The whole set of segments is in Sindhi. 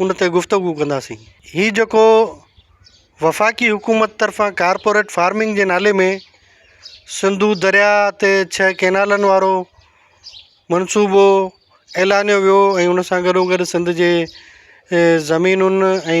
ان تي گفتگو ڪنداسين. هي جيڪو وفاقي حڪومت طرفان ڪارپوريٽ فارمنگ جي نالي ۾ سنڌو درياء تي ڇهه ڪينالن وارو منصوبو اعلانيو ويو ۽ ان سان گڏوگڏ سنڌ جي زمينن ۽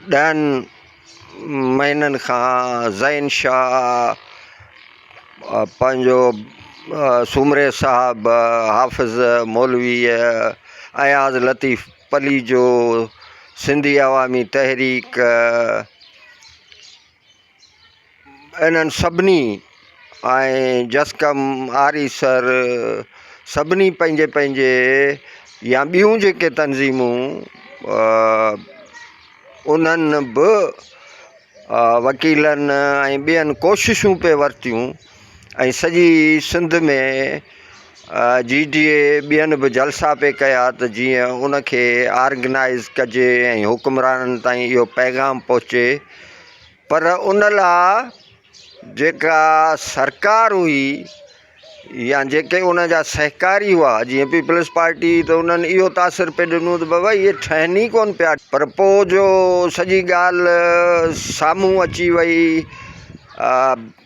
ڏهن مهينن کان زين شاهه پنهنجو سومري صاحب حافظ مولويء اياز لطيف پليجو سنڌي عوامي تحريڪ انهن سڀني ۽ جسقم، آريسر سڀني پنهنجي پنهنجي يا ٻيون جيڪي تنظيمون انهن به وڪيلن ۽ ٻين ڪوششون پئي ورتيون ۽ سڄي سنڌ ۾ جي ڊي اي ٻين به جلسا پئي ڪيا ته جيئن ان کي آرگنائيز ڪجي ۽ حڪمرانن تائين اهو پيغام پهچي پر ان لا جيڪا سرڪار هئي يا جيڪي ان جا سهڪاري هئا جيئن پيپلز پارٽي ته انهن اهو تاثر پئي ڏنو ته بابا اهي ٺهن ئي ڪون پيا پر پوء جو سڄي ڳالهه سامهون اچي وئي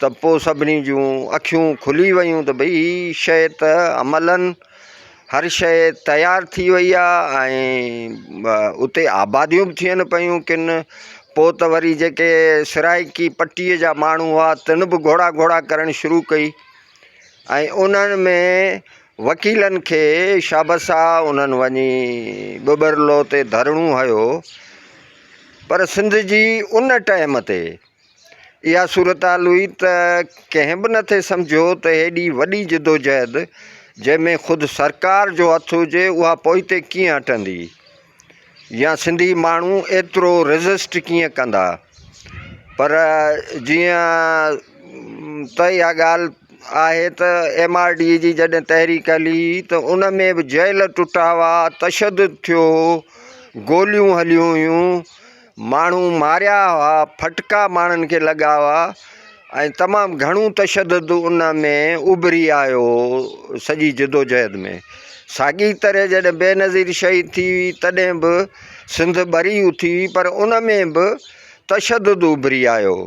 ته پوء سڀني جون اکيون کلي ويون ته ڀئي هي شيء ته عملاً هر شيء تيار ٿي وئي آ ۽ اتي آباديون به ٿين پيون ڪن پوء ته وري جيڪي سرائيڪي پٽيء جا ماڻهو هئا تن به گهوڙا گهوڙا ڪرڻ شروع ڪئي ۽ انهن ۾ وڪيلن کي شابسا انهن وڃي ٻٻرلو تي ڌرڻو هنيو پر سنڌ جي ان ٽئم تي اها صورتحال هئي ته ڪنهن به نه ٿي سمجهيو ته هيڏي وڏي جدوجهد جنهن ۾ خود سرڪار جو هٿ هجي اها پوئتي ڪيئن هٽندي يا سنڌي ماڻهو ايترو ريزسٽ ڪيئن ڪندا پر جيئن ته اها ڳالهه آهي ته ايم آر ڊي جي جڏهن تحريڪ هلي ته ان ۾ به جيل ٽٽا هئا تشدد ٿيو هو گوليون هليون هيون ماڻهو ماريا هئا، ڦٽڪا ماڻهن کي لڳا هئا ۽ تمام گهڻو تشدد ان ۾ اڀري آيو هو سڄي جدوجهد ۾ ساڳي طرح جڏهن بينظير شهيد ٿي هئي تڏهن به سنڌ ٻري اٿي هئي پر ان ۾ به تشدد اڀري آيو هو.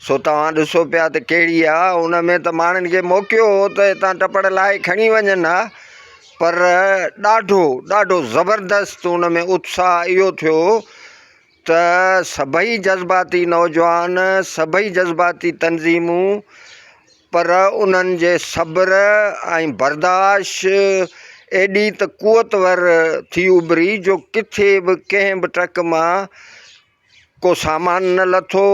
سو توهان ڏسو پيا ته ڪهڙي آ، ان ۾ ته ماڻهن کي موقعو هو ته هتان ٽپڙ لاهي کڻي وڃن ها، پر ڏاڍو ڏاڍو زبردست ان ۾ اتساهه اهو ٿيو ته سڀئي جذباتي نوجوان، سڀئي جذباتي تنظيمون، پر انهن جي صبر ۽ برداشت ايڏي ته قوتور ٿي اڀري جو ڪٿي به ڪنهن به ٽرڪ مان ڪو سامان نه لٿو،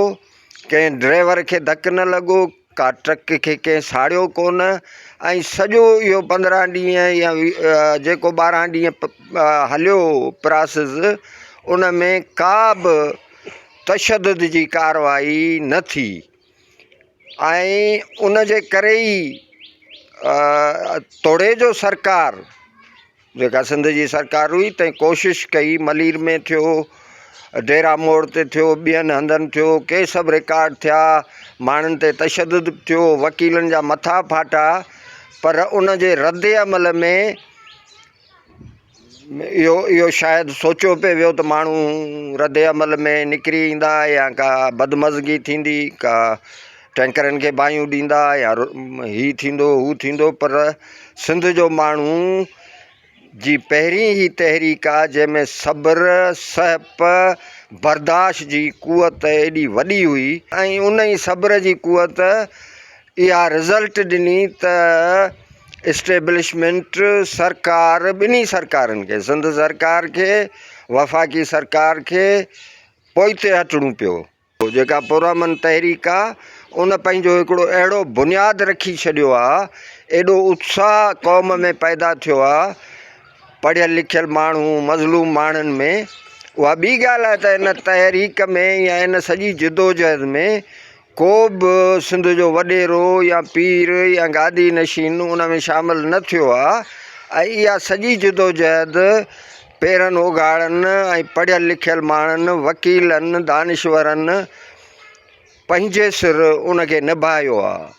ڪنهن ڊرائيور کي ڌڪ نه لڳو، ڪا ٽرڪ کي ڪنهن ساڙيو ڪونه ۽ سڄو اهو پندرهن ڏينهن يا جيڪو ٻارهن ڏينهن هليو پراسز ان ۾ ڪا به تشدد جي ڪارروائي نه ٿي ۽ ان جي ڪري ئي توڙي جو سرڪار جيڪا سنڌ جي سرڪار هئي تنهن ڪوشش ڪئي، ملير ۾ ٿيو، ڊيرا موڙ تي ٿيو، ٻين هنڌن ٿيو، ڪي سڀ رڪارڊ ٿيا، ماڻهن تي تشدد به ٿيو، وڪيلن جا مٿا ڦاٽا، پر ان جي رد عمل ۾ اهو اهو شايد سوچيو پئي ويو ته ماڻهو رد عمل ۾ نڪري ايندا يا ڪا بدمزگي ٿيندي ڪا ٽينڪرن کي باهيون ڏيندا يا هي ٿيندو هو ٿيندو پر سنڌ جو ماڻهو جي پهرين هي تحريڪ آ جنهن ۾ صبر سهپ برداشت جي قوت ايڏي وڏي هئي ۽ ان ئي صبر جي قوت اها رزلٽ ڏني ته اسٽيبلشمينٽ سرڪار ٻنهي سرڪارن کي سنڌ سرڪار کي وفاقي سرڪار کي پوئتي هٽڻو پيو پوء جيڪا پرامن تحريڪ آ ان پنهنجو هڪڙو اهڙو بنياد رکي ڇڏيو آ ايڏو اتساهه قوم ۾ پيدا ٿيو آ پڙهيل لکيل ماڻهو مظلوم ماڻهن ۾ اها ٻي ڳالهه آ ته ان تحريڪ ۾ يا ان سڄي جدوجهد ۾ ڪو به سنڌ جو وڏيرو يا پير يا گادي نشين ان ۾ شامل نه ٿيو آ ۽ اها سڄي جدوجهد پيرن اوگاڙن ۽ پڙهيل لکيل ماڻهن، وڪيلن، دانشورن پنهنجي سر ان کي نڀايو آ.